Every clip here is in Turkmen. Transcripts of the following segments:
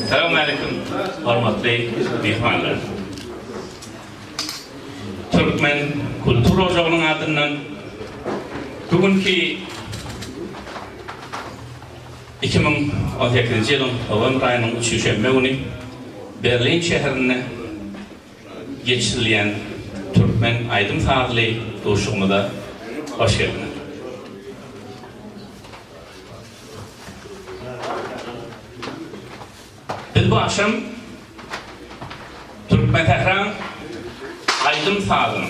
Salam aleyküm, hormatly myhmanlar. Türkmen kultur ojagynyň adyndan bu günki 2018-nji ýylyň howam aýynyň üçünji şenbe güni Berlin şäherinde geçirilýän türkmen aýdym-sazly duşugymyza hoş geldiňiz. Biz bu agşam Türkmensähraň aýdym-sazyň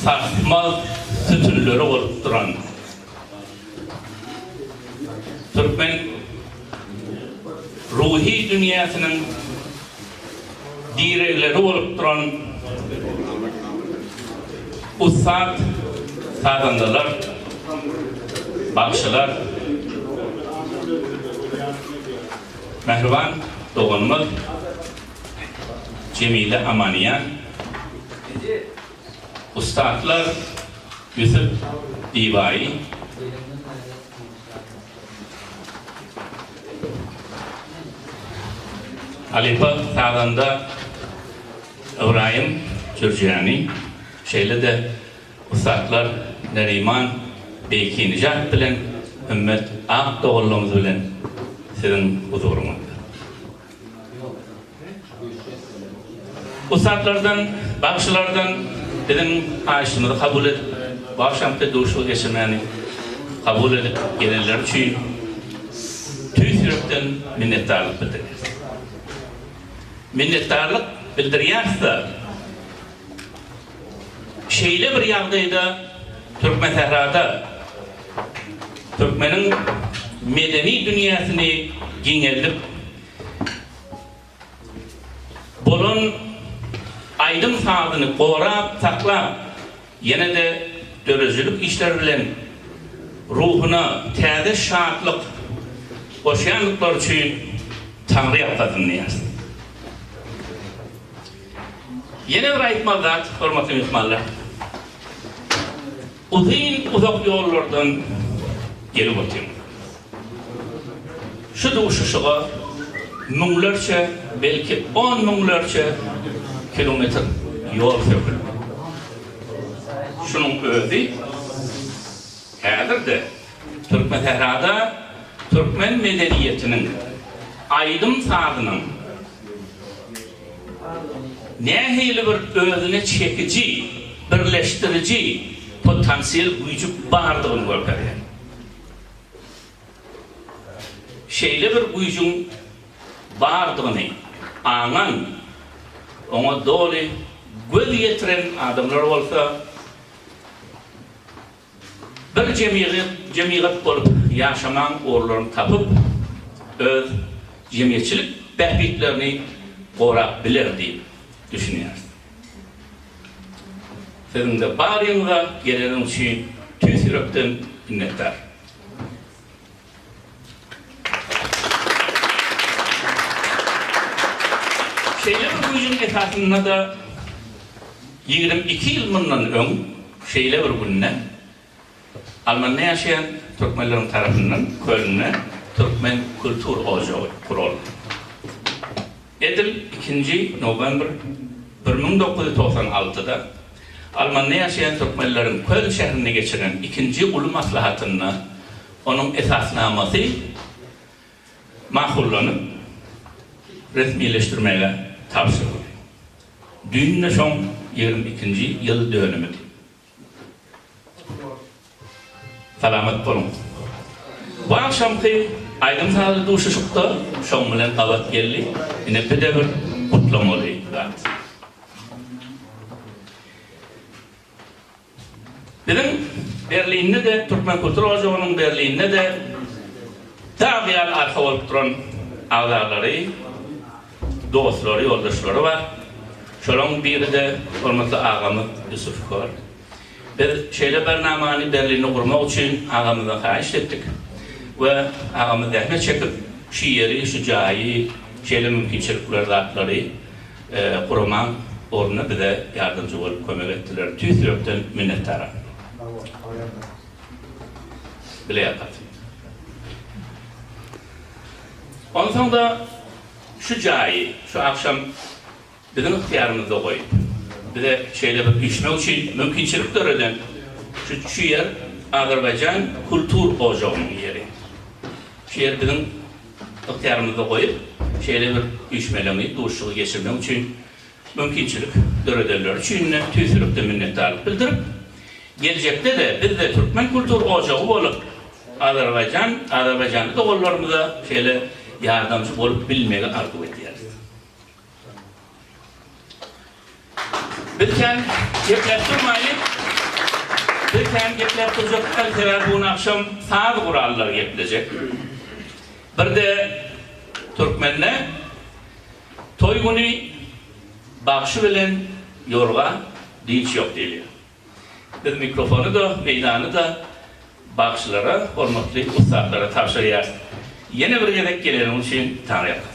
sarsmaz sütünleri bolup duran türkmen ruhy dünýäsiniň diregleri bolup duran ussat sazandalar, bagşylar, mähriban doganymyz Jemile Amaniýan, ussatlar Ýusup Diýbaýy, Halypa sazanda Ybraýym Jürjani, şeýle-de ussatlar Neriman Beýkinijat bilen Hümmet Akdogallymyz bilen siziň huzuryňyzda. Ussatlardan, bagşylardan biziň haýyşymyzy kabul edip, bu agşamky duşuşygy geçirmäni kabul edip gelenleri üçin tüýs ýürekden minnetdarlyk bildirýäris. Minnetdarlyk bildirýäris-de, Şeýle bir ýagdaýda Türkmensährada türkmeniň medeni dünýäsini giňeldip, bolan aýdym-sazyny gorap saklap, ýene-de döredijilik işleri bilen ruhuna täze şatlyk goşýandyklary üçin Taňry ýalkasyn diýýäris. Ýene bir aýtmaly zat, hormatly myhmanlar. Uzyn, uzak ýollardan gelip otyryn. Şu duşuşyga müňlerçe, belki on müňlerçe kilometr ýol söküldi. Şunuň özi häzir-de Türkmensährada türkmen medeniýetiniň, aýdym-sazynyň, Nähili bir özüne çekiji, birleşdiriji potansiýel güýji bardygyny görkezýär. Şeýle bir güýjüň bardygyny aňan, oňa doly göz ýetiren adamlar bolsa, Bir jemgyýet bolup ýaşamaň ugurlaryny tapyp, öz jemgyýetçilik bähbitlerini gorap biler diýip düşünýäris. Siziň-de baryňyza geleniň üçin tüýs ýürekden minnetdar. Şeýle bir güýjüň esasynda-da ýigrimi iki ýyl mundan öň şeýle bir günde Almanda ýaşaýan türkmenleriň tarapyndan Kölnde Türkmen kultur ojagy guraldy. Edil ikinji nowembr bir müň dokuz ýüz togsan altyda Almanda ýaşaýan türkmenleriň Köln şäherinde geçiren ikinji uly maslahatynda Onuň esasnamasy makullanyp, resmileşdirmäge tabşyryldy. Düýn-de şoň ýigrimi ikinji ýyl dönümidi. Salamat boluň! Bu agşamky aýdym-sazly duşuşyk-da şoň bilen gabat geldi, ine bir-de bir gutlamaly zat. Biziň Berlinde-de, Türkmen kultur ojagynyň Berlinde-de dag ýaly arka bolup duran agzalary, dostlary, ýoldaşlary bar. Şolaryň biri-de hormatly agamyz Ýusuf Kör. Biz şeýle bir namany Berlinde gurmak üçin agamyzdan haýyş etdik we agamyz zähmet çekip, şu ýeri, şu jaýy, şeýle mümkinçilikleri, zatlary, Gurama ugrunda bize ýardamçy bolup kömek etdiler. Tüýs ýürekden minnetdara. Bileýakat. Onsoň-da şu jaýy şu agşam biziň ygtyýarymyzda goýup, bize şeýle bir işmek üçin mümkinçilik döreden şu ýer Azerbaýjan kultur ojagynyň ýeri. Şu ýer biziň. ygtyýarymyzda goýup, şeýle bir üýşmeleňi, duşuşygy geçirmek üçin mümkinçilik döredenleri üçin-de tüýsülikden minnetdarlyk bildirip, geljekde-de biz-de türkmen kultur ojagy bolup, Azerbaýjan, azerbaýjanly doganlarymyza şeýle ýardamçy bolup bilmegi arzuw edýäris. Biz kän gepläp durmaýlyk. Biz kän gepläp durjakdyk, sebäbi bu gün agşam saz gurallary geplejek. Bir-de türkmende toý güni bagşy bilen ýorga dynç ýok diýilýär. Biz mikrofony-da, meýdany-da bagşylara, hormatly ussatlara tabşyrýarys. Ýene bir gezek geleniň üçin Taňryýalkasyn!